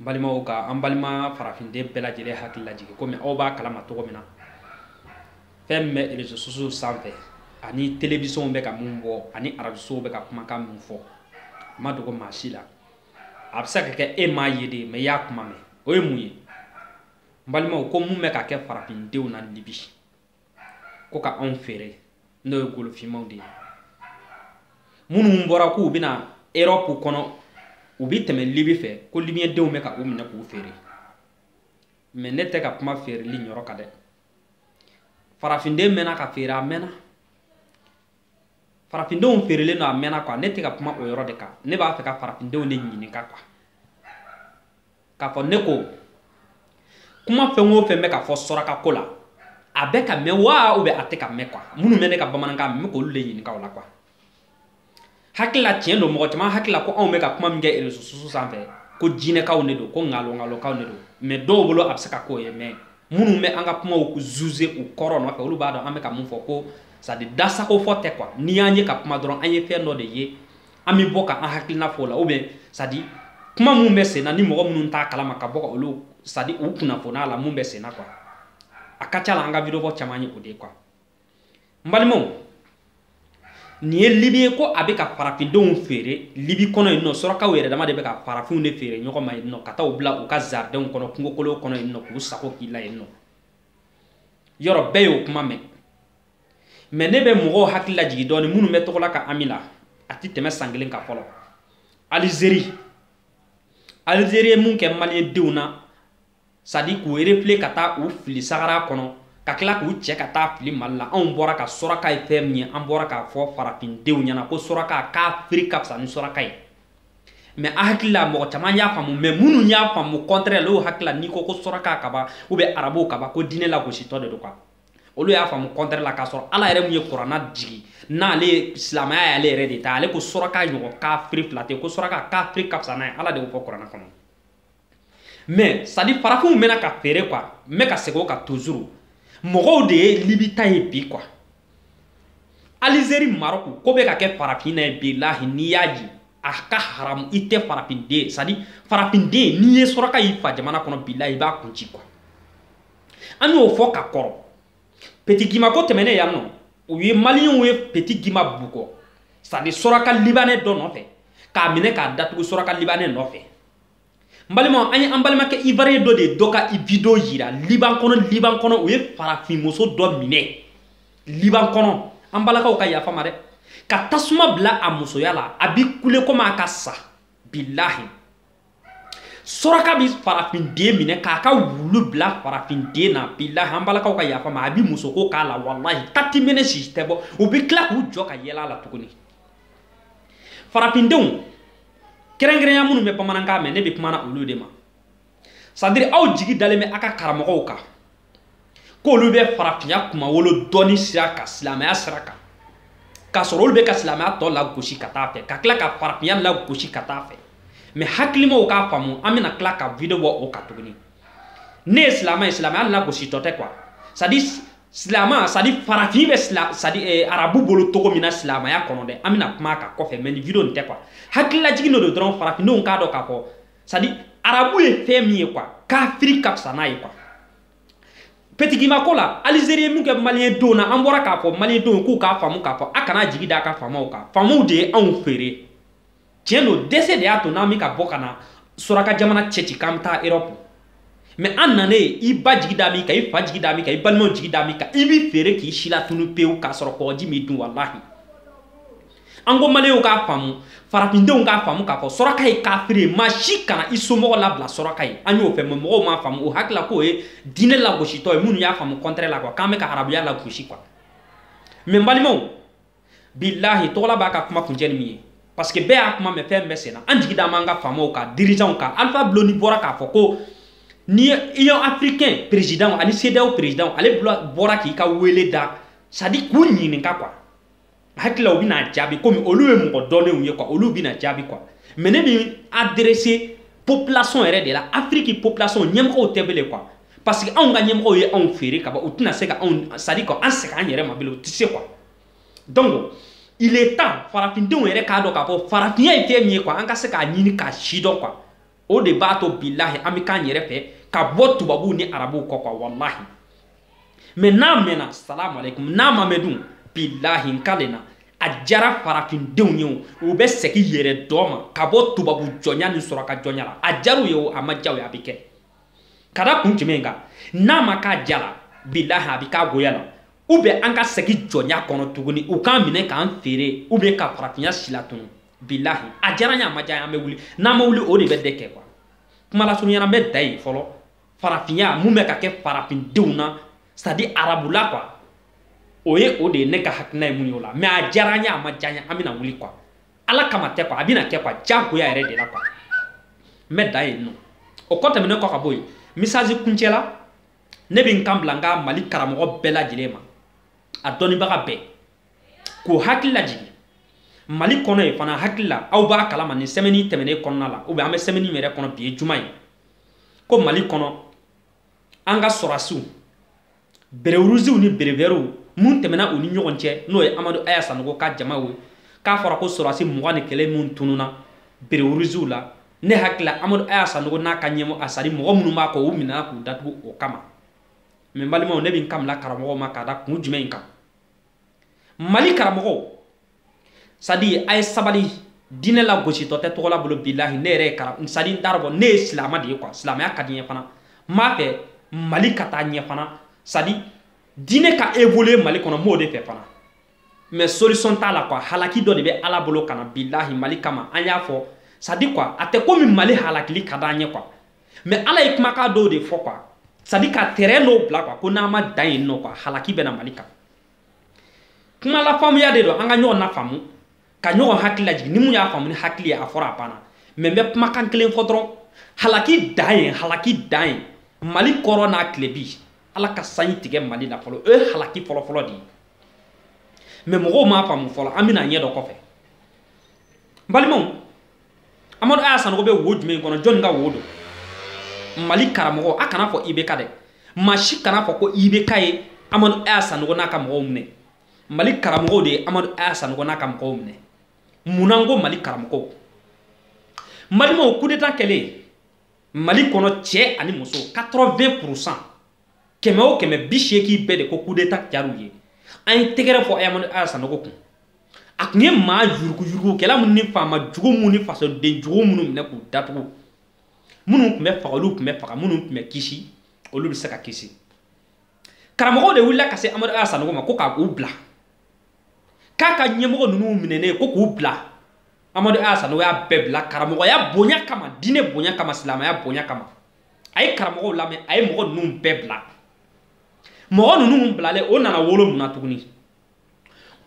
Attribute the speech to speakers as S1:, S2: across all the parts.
S1: n balimaw ka an balima farafinden bɛɛ lajɛlen hakili lajigin komi aw b'a kalama cogo min na fɛn min bɛ rezo sosow sanfɛ ani telewisɔnw bɛ ka min bɔ ani arajosow bɛ ka kumakan min fɔ a ma dogo maa si la a bɛ se ka kɛ e m'a ye dɛ mɛ i y'a kuma mɛn o ye mun ye n balimaw ko mun bɛ ka kɛ farafindenw na libi ko ka anw feere n'o ye golofinmaw de ye minnu bɔra k'u bɛ na erɔpu kɔnɔ u bɛ tɛmɛ libi fɛ ko libiyɛndenw bɛ ka u minɛ k'u feere mɛ ne tɛ ka kuma feereli yɔrɔ kan dɛ farafinden mɛnna ka feere a mɛnna farafindenw feerelen don a mɛnna kuwa ne tɛ ka kuma o yɔrɔ de kan ne b'a fɛ ka farafindenw de ɲininka kuwa k'a fɔ ne ko kuma fɛn o fɛn bɛ ka fɔ sɔraka ko la a bɛ k'a mɛn wa ubiyɛn a tɛ k'a mɛn kuwa minnu bɛ ne ka bamanankan mɛ n bɛ k'olu de ɲininka o la kuwa hakili la tiɲɛ don mɔgɔ caman hakili la ko anw bɛ ka kuma min kɛ erezo susu sanfɛ ko jinɛkanw de don ko nkalonkalonkanw de don mɛ dɔw bolo a bɛ se ka k'o ye mɛ minnu bɛ an ka kumaw zuze u kɔrɔ nɔfɛ olu b'a dɔn an bɛ ka mun fɔ ko sadi da sago fɔ tɛ kuwa n'i y'an ye ka kuma dɔrɔn an ye fɛn dɔ de ye an bɛ bɔ ka an hakilina fɔ o la ubiyɛn sadi kuma minnu bɛ senna ni mɔgɔ minnu t'a kalama ka bɔ ka olu sadi u kunnafoni a la mun bɛ senna kuwa a ka ca la an ka vidiyobɔ caman ye o de ye kuwa n balimaw nin ye libi ye ko a bɛ ka farafindenw feere libi kɔnɔ yen nɔ surakaw yɛrɛ dama de bɛ ka farafinw de feere ɲɔgɔn ma yen nɔ ka taa u bila u ka zaridɛnw kɔnɔ kungokolo kɔnɔ yen nɔ k'u sago k'i la yen nɔ yɔrɔ bɛɛ y'o kuma mɛn mɛ ne bɛ mɔgɔw hakili lajigi dɔɔni minnu bɛ togola ka ami la a tɛ tɛmɛ san kelen kan fɔlɔ alizeri alizeri ye mun kɛ maliyɛndenw na sadi k'u erefule ka taa u fili sahara kɔnɔ ka tila k'u cɛ ka taa fili mali la anw bɔra ka sɔraka ye fɛn min ye an bɔra k'a fɔ farafindenw ɲɛna ko sɔraka kafiri ka fisa ni sɔraka ye mɛ n hakili la mɔgɔ caman y'a faamu mɛ minnu y'a faamu kɔntrɛ la u hakili la n'i ko ko sɔraka kaba ubiyɛn arabuw kaba ko diinɛ lagositɔ de don kuwa olu y'a faamu kɔntrɛ la k'a sɔrɔ ala yɛrɛ min ye kurana jigi n'ale ye silamɛya y'ale yɛrɛ de ta ale ko suraka ɲɔgɔn kafiri fila tɛ ko suraka kafiri ka fisa n'a ye ala de y'o fɔ kurana kɔnɔ mɛ sadi farafinw mɛnna ka feere kuwa n bɛ ka segin o kan tuzuru mɔgɔw de ye libi ta ye bi kuwa alizeri marɔku ko bɛ ka kɛ farafin na yen bilahi n'i y'a ye a ka haramu i tɛ farafinden sadi farafinden n'i ye suraka y'i fa jamana kɔnɔ bilahi i b'a kun ci kuwa an y'o fɔ ka kɔrɔ peti gimba ko tɛmɛnen yan nɔ u ye maliyɛnw ye peti gimba bugɔ sadi sɔraka libanɛ dɔ nɔfɛ k'a minɛ k'a datugu sɔraka libanɛ nɔfɛ n balimaw an ye an balimakɛ ivuwariyɛn dɔ de ye dɔ ka video yira liban kɔnɔ liban kɔnɔ u ye farafinmuso dɔ minɛ liban kɔnɔ an balakaw ka yafa n ma dɛ ka tasuma bila a musoya la a bi kule komi a ka sa bilahi suraka bɛ farafinden minɛ k'a ka wulu bila farafinden na bilahi an balakaw ka yafa ma a bɛ musoko k'a la walahi tati mene si tɛ bɔ u bɛ tila k'u jɔ ka yɛlɛ a la tuguni farafindenw kɛrɛnkɛrɛnya minnu bɛ bamanankan mɛn ne bɛ kuma na olu de ma c'est-à-dire aw jigi dalen bɛ aw ka karamɔgɔw kan k'olu bɛ farafinya kunmawolo dɔɔni sira kan silamɛya sira kan k'a sɔrɔ olu bɛ ka silamɛya tɔ lagosi ka taa fɛ ka tila ka farafinya lagosi ka taa fɛ mais hakilimaw k'a faamu an bɛna tila ka video bɔ o kan tuguni ne ye silamɛ ye silamɛya lagositɔ tɛ quoi c'est-à-dire silamɛ c'est-à-dire farafin bɛ sila c'est-à-dire eh, arabu bolo cogo min na silamɛya kɔnɔ dɛ an bɛna kuma a kan kɔfɛ mais nin video nin tɛ quoi hakililajigin dɔ don dɔrɔn farafindenw k'a dɔn k'a fɔ c'est-à-dire arabu ye fɛn min ye quoi kafiri ka fisa n'a ye quoi petit guimba ko la alizeri ye min kɛ maliyɛn dɔw na an bɔra k'a fɔ maliyɛn dɔw k'u k'a faamu k'a fɔ a kana jigi da a ka faamaw kan faamaw de ye anw feere tiɲɛ don dɛsɛ de y'a to n'an bɛ ka bɔ ka na suraka jamana cɛci k'an bɛ taa erɔpu mais an nanen i ba jigi da min kan i fa jigi da min kan i balimaw jigi da min kan i b'i feere k'i silatunu pewu k'a sɔrɔ kɔgɔji m'i dun walahi an ko maliyɛnw k'a faamu farafindenw k'a faamu k'a fɔ suraka ye kafiri ye maa si kana i somɔgɔ labila suraka ye an y'o fɔ mais mɔgɔw m'a faamu u hakili la k'o ye diinɛ lagositɔ ye minnu y'a faamu contraire la quoi k'an bɛ ka arabuya lagosi quoi mais n balimaw bilahi tɔgɔla b'a ka kuma kuncɛ ni min ye parce que bɛɛ y'a kuma mɛn fɛn min bɛ senna an jigi dalen b'an ka faamaw kan dirigeantw kan alpha blondy bɔra k'a fɔ ko ni union africaine président ani cedeao président ale bɔra k'i ka wele da c'est-à-dire k'u ɲininka quoi hakili la u bɛna jaabi komi olu ye mɔgɔ dɔnnenw ye quoi olu bɛna jaabi quoi mais ne bɛ adresser population yɛrɛ de la afiriki population ɲɛmɔgɔw tɛ bele quoi parce que anw ka ɲɛmɔgɔw ye anw feere ka ban u tɛna se ka anw c'est-à-dire ka an segin an yɛrɛ ma bilen u tɛ se quoi donc il est temps farafindenw yɛrɛ k'a dɔn k'a fɔ farafinya ye fɛn min ye quoi an ka se k'a ɲini k'a si dɔn quoi o de b'a to bilahi an bɛ k'an yɛrɛ fɛ ka bɔ tubabuw ni arabuw kɔ quoi walahi mais n'a mɛnna salamu aleykum n'a ma mɛn dun bilahi n kalen a diyara farafindenw ye o u bɛ segin yɛrɛdɔn ma ka bɔ tubabu jɔnya ni suraka jɔnya la a diyara u ye o a ma diya u ye a bɛ kɛ ka da kun jumɛn kan n'a ma k'a diya la bilahi a bɛ k'a goya la ou bien an ka segin jɔnya kɔnɔ tuguni u k'an minɛ k'an feere ou bien ka farafinya silatunu bilahi a diyara n ye a ma diya n ye an bɛ wuli n'an ma wuli o de bɛ dɛ kɛ quoi kuma lasurunya na n bɛ dan yen fɔlɔ farafinya mun bɛ ka kɛ farafindenw na c'est-à-dire arabula quoi o ye o de ye ne ka hakilina ye mun ye o la mais a diyara n ye a ma diya n ye an bɛna wuli quoi ala kama tɛ kuwa a bɛna kɛ kuwa jagoya yɛrɛ de la kuwa n bɛ dan yen nɔ o kɔ tɛmɛnen kɔ ka bɔ yen misazi kuncɛ la ne bɛ n kan bila n ka mali karamɔgɔ bɛɛ lajɛlen ma a dɔnnibaga bɛɛ k'o hakili lajigin mali kɔnɔ yen fana hakili la aw b'a kalama nin sɛmɛni tɛmɛnen kɔnɔna la ubiyɛn an bɛ sɛmɛni min yɛrɛ kɔnɔ bi ye juma ye ko mali kɔnɔ an ka sɔrɔdasiw berewuruziw ni berevɛriw min tɛmɛna u ni ɲɔgɔn cɛ n'o ye amadu aya sanogo ka jamaw ye k'a fɔra ko sɔrɔdasi mugan ni kelen minnu tununa berewuruziw la ne hakili la amadu aya sanogo n'a ka ɲɛmɔ a sadi mɔgɔ minnu b'a kɔ u minɛna k'u datugu o kama mɛ n balimaw ne bɛ n kan bila karamɔgɔw ma k'a da kun jumɛn in kan mali karamɔgɔw sadi a ye sabali diinɛ lagositɔ tɛ togola bolo bilahi ne yɛrɛ ye kara sadi n t'a dɔn ne ye silamɛ de ye kuwa silamɛya ka di n ye fana n b'a fɛ mali ka taa ɲɛ fana sadi diinɛ ka évoluer mali kɔnɔ n b'o de fɛ fana mais solution t'a la kuwa halaki dɔ de bɛ ala bolo ka na bilahi mali kama an y'a fɔ sadi kuwa a tɛ komi mali halakili ka d'an ye kuwa mɛ ala ye kumakan dɔw de fɔ kuwa sadi ka tɛrɛn dɔw bila kuwa ko n'an ma dan yen nɔ kuwa halaki bɛ na mali kan kuma lafaamuya de don an ka ɲɔgɔn nafaamu ka ɲɔgɔn hakili lajigin ni min y'a faamu ni hakili ye a fɔra a banna mɛ n bɛ kumakan kelen fɔ dɔrɔn halaki dan ye halaki dan ye mali kɔrɔn n'a tilebin ala ka sanji tigɛ mali la fɔlɔ o ye halaki fɔlɔfɔlɔ de ye mɛ mɔgɔw m'a faamu fɔlɔ an bɛn'a ɲɛ dɔn kɔfɛ n balimaw amadu aya sanogo bɛ wo jumɛn kɔnɔ jɔnni ka wo don mali karamɔgɔ a kan'a fɔ ibeka dɛ maa si kan'a fɔ ko ibeka ye amadu aya sanogo n'a ka mɔgɔw minɛ mali karamɔgɔw de ye amadu aya sanogo n'a ka mɔgɔw minɛ munna n ko mali karamɔgɔw n balimaw kudeta kɛlen mali kɔnɔ cɛ ani muso 80 pourcent kɛmɛ o kɛmɛ bi seegin bɛɛ de ko kudeta diyara u ye an ye tɛgɛrɛ fɔ amadu aya sanogo kun a tun ye maa yuruguyurugukɛla minnu ni faama jugu minnu ni fasoden jugu minnu minɛ k'u datugu minnu tun bɛ faga olu tun bɛ faga minnu tun bɛ kisi olu bɛ se ka kisi karamɔgɔw de wulila ka se amadu aya sanogo ma ko k'a k'u bila k'a ka ɲɛmɔgɔ ninnu minɛnen ko k'u bila amadu aya sanogo y'a bɛɛ bila karamɔgɔya bonya kama diinɛ bonya kama silamɛya bonya kama a ye karamɔgɔw lamɛn a ye mɔgɔ ninnu bɛɛ bila mɔgɔ ninnu bilalen o nana wolo mun na tuguni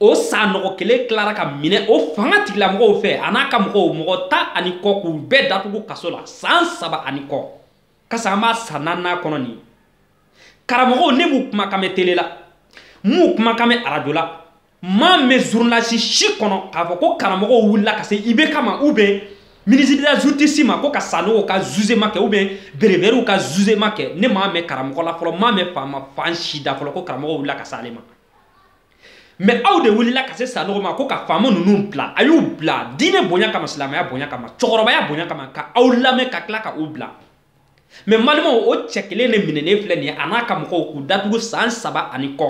S1: o sanogo kelen tilara ka minɛ o fanga tigilamɔgɔw fɛ a n'a ka mɔgɔw mɔgɔ tan ani kɔ k'u bɛɛ datugu kaso la san saba ani kɔ kasa an b'a san naaninan kɔnɔ nin karamɔgɔw ne m'u kumakan mɛn tele la m'u kumakan mɛn arajo la m'a mɛn zurunalisi si kɔnɔ k'a fɔ ko karamɔgɔw wulila ka se IBK ma ou bien ministre de la justice ma ko ka sanogo ka zuzema kɛ ou bien berevɛriw ka zuzema kɛ ne m'a mɛn karamɔgɔ la fɔlɔ m'a mɛn faama fan si da fɔlɔ ko karamɔgɔ wulila ka se ale ma mɛ aw de wulila ka se sanogo ma ko ka faama ninnu bila a y'u bila diinɛ bonya kama silamɛya bonya kama cɛkɔrɔbaya bonya kama ka aw lamɛn ka tila ka u bila mɛ n balimaw o cɛ kelen de minɛnen filɛ nin ye a n'a ka mɔgɔw k'u datugu san saba ani kɔ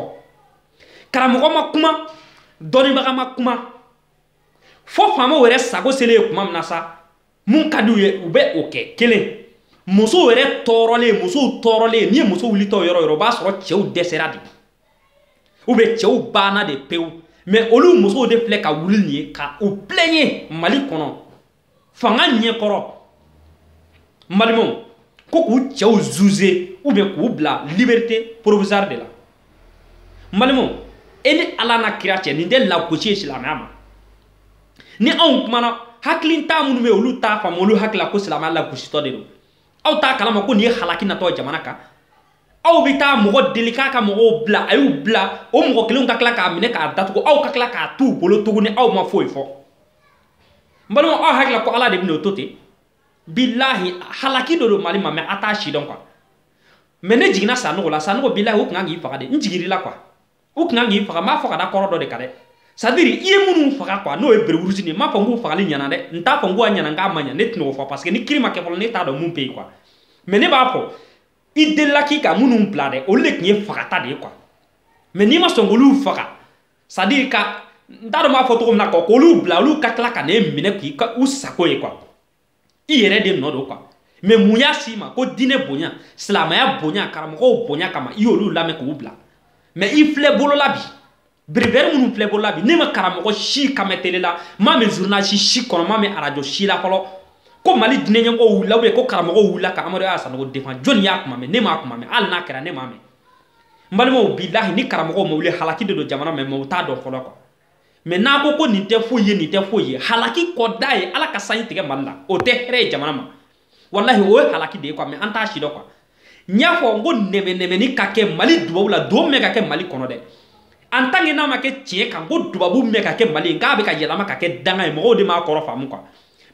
S1: karamɔgɔ ma kuma dɔnnibaga ma kuma fo faamaw yɛrɛ sago selen ye kuma min na sa mun ka di u ye u bɛ o kɛ kelen musow yɛrɛ tɔɔrɔlen musow tɔɔrɔlen n'i ye muso wulitɔ yɔrɔ o yɔrɔ o b'a sɔrɔ cɛw dɛsɛra de ou bien cɛw banna de pewu mɛ olu musow de filɛ ka wuli nin ye ka u plɛɲe mali kɔnɔ fanga ɲɛkɔrɔ n balimaw ko k'u cɛw zuze ou bien k'u bila liberté provisoire de la n balimaw e ni ala n'a kira cɛ nin tɛ lagosi ye silamɛya ma ni anw kumana hakilintan minnu bɛ olu t'a faamu olu hakilila ko silamɛya lagositɔ de don aw t'a kalama ko nin ye halaki natɔ jamana kan aw bɛ taa mɔgɔ deli k'a ka mɔgɔw bila a y'u bila o mɔgɔ kelenw ka tila k'a minɛ k'a datugu aw ka tila k'a t'u bolo tuguni aw ma foyi fɔ n balima aw hakili la ko ala de bɛna o to ten bilahi halaki dɔ don mali ma mɛ a t'a sidɔn kuwa mɛ ne jiginna sanogo la sanogo bilahi u tun kan k'i faga de n jigir'i la kuwa u tun kan k'i faga n b'a fɔ ka da kɔrɔ dɔ de kan dɛ sadiri i ye minnu faga kuwa n'o ye bereruzi nin n m'a fɔ n k'u fagali ɲana dɛ n t'a fɔ n k'u ka ɲana n k'a ma ɲa ne tɛna o fɔ parce que ni kiri ma kɛ fɔlɔ ne t'a dɔn mun bɛ yen kuwa mɛ ne b'a fɔ i delila k'i ka minnu bila dɛ olu de tun ye fagata de ye kuwa mɛ n'i ma sɔn k'olu faga sadi ka n t'a dɔn n b'a fɔ cogo min na kuwa k'olu bila olu ka tila ka ne minɛ k'i kɛ u sago ye kuwa i yɛrɛ de nɔ don kuwa mɛ mun y'a s'i ma ko diinɛ bonya silamɛya bonya karamɔgɔw bonya kama i y'olu lamɛn k'u bila mɛ i filɛ bolola bi berevɛri minnu filɛ bolola bi ne ma karamɔgɔ si kan mɛn tele la m'a mɛn zurnalisi si kɔnɔ m'a mɛn arajo si la fɔlɔ ko mali diinɛ ɲɛmɔgɔw wulila ubiyɛn ko karamɔgɔw wulila ka amadu aya sanogo defan jɔni y'a kuma mɛn ne m'a kuma mɛn hali n'a kɛra ne m'a mɛn n balimaw bilahi ni karamɔgɔw ma wuli halaki de don jamana mɛ mɔgɔw t'a dɔn fɔlɔ kuwa mɛ n'a ko ko nin tɛ foyi ye nin tɛ foyi ye halaki kɔda ye ala ka sanji tigɛ mali la o tɛ hɛrɛ ye jamana ma walahi o ye halaki de ye kuwa mɛ an t'a sidɔn kuwa n y'a fɔ n ko nɛmɛnɛmɛni ka kɛ mali duwawu la don min bɛ ka kɛ mali kɔnɔ dɛ en tant que n'a ma kɛ tiɲɛ kan ko duwawu min bɛ ka kɛ mali ye k'a bɛ ka yɛlɛma ka kɛ danga ye mɔgɔw de m'a kɔrɔ faamu kuwa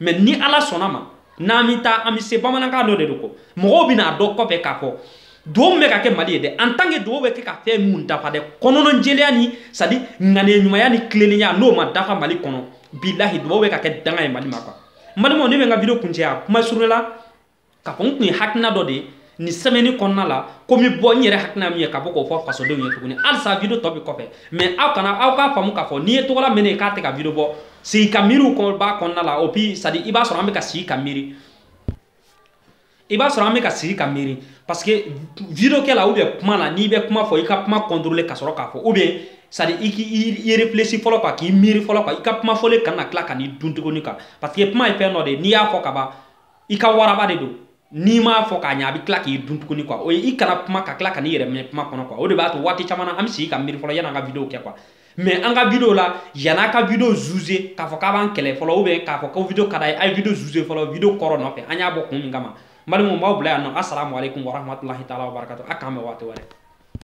S1: mɛ ni ala sɔnna ma n'an bɛ taa an bɛ se bamanankan dɔ de don ko mɔgɔw bɛna a dɔn kɔfɛ k'a fɔ duwawu min bɛ ka kɛ mali ye dɛ en tant que duwawu bɛ kɛ ka fɛn minnu dafa dɛ kɔnɔnɔjɛlenya ni sadi ŋaniya ɲumanya ni tilennenya n'o ma dafa mali kɔnɔ bilahi duwawu bɛ ka kɛ danga ye mali ma kuwa n balimaw ne bɛ n ka video kuncɛ yan kuma surun la k'a fɔ n tun ye hakilina dɔ de ye nin semaine kɔnɔna la ko n bɛ bɔ n yɛrɛ hakilina min ye ka bɔ k'o fɔ fasodenw ye tuguni halisa video tɔ bɛ kɔfɛ mais aw kana aw k'a faamu k'a fɔ n'i ye Togola mɛnnen ye k'a tɛ ka video bɔ sigi ka miiriw b'a kɔnɔna la ou bien c'est-à-dire i b'a sɔrɔ an bɛ ka sigi ka miiri i b'a sɔrɔ an bɛ ka sigi ka miiri parce que video kɛ la ou bien kuma la n'i bɛ kuma fɔ i ka kuma contrôler ka sɔrɔ k'a fɔ ou bien c'est-à-dire i k'i réfléchir fɔlɔ quoi k'i miiri fɔlɔ quoi i ka kuma fɔlen kana tila ka n'i dun tuguni quoi parce que kuma ye fɛn dɔ de ye n'i y'a fɔ ka ban i ka waraba de don n'i m'a fɔ k'a ɲɛ a bɛ tila k'i dun tuguni quoi o ye i kana kuma ka tila ka n'i yɛrɛ minɛ kuma kɔnɔ quoi o de b'a to waati caman na an bɛ sigi ka miiri fɔlɔ yan'an ka video kɛ quoi mais an ka video la yan'a ka video juger k'a fɔ k'a b'an kɛlɛ fɔlɔ ou bien k'a fɔ ko video ka d'a ye a ye video juger fɔlɔ video kɔrɔ nɔfɛ an y'a bɔ kun min kama n balimaw n b'aw bila yan nɔ asalamualeykum warahmatulahi taala wabarakatu a k'an bɛn waati wɛrɛ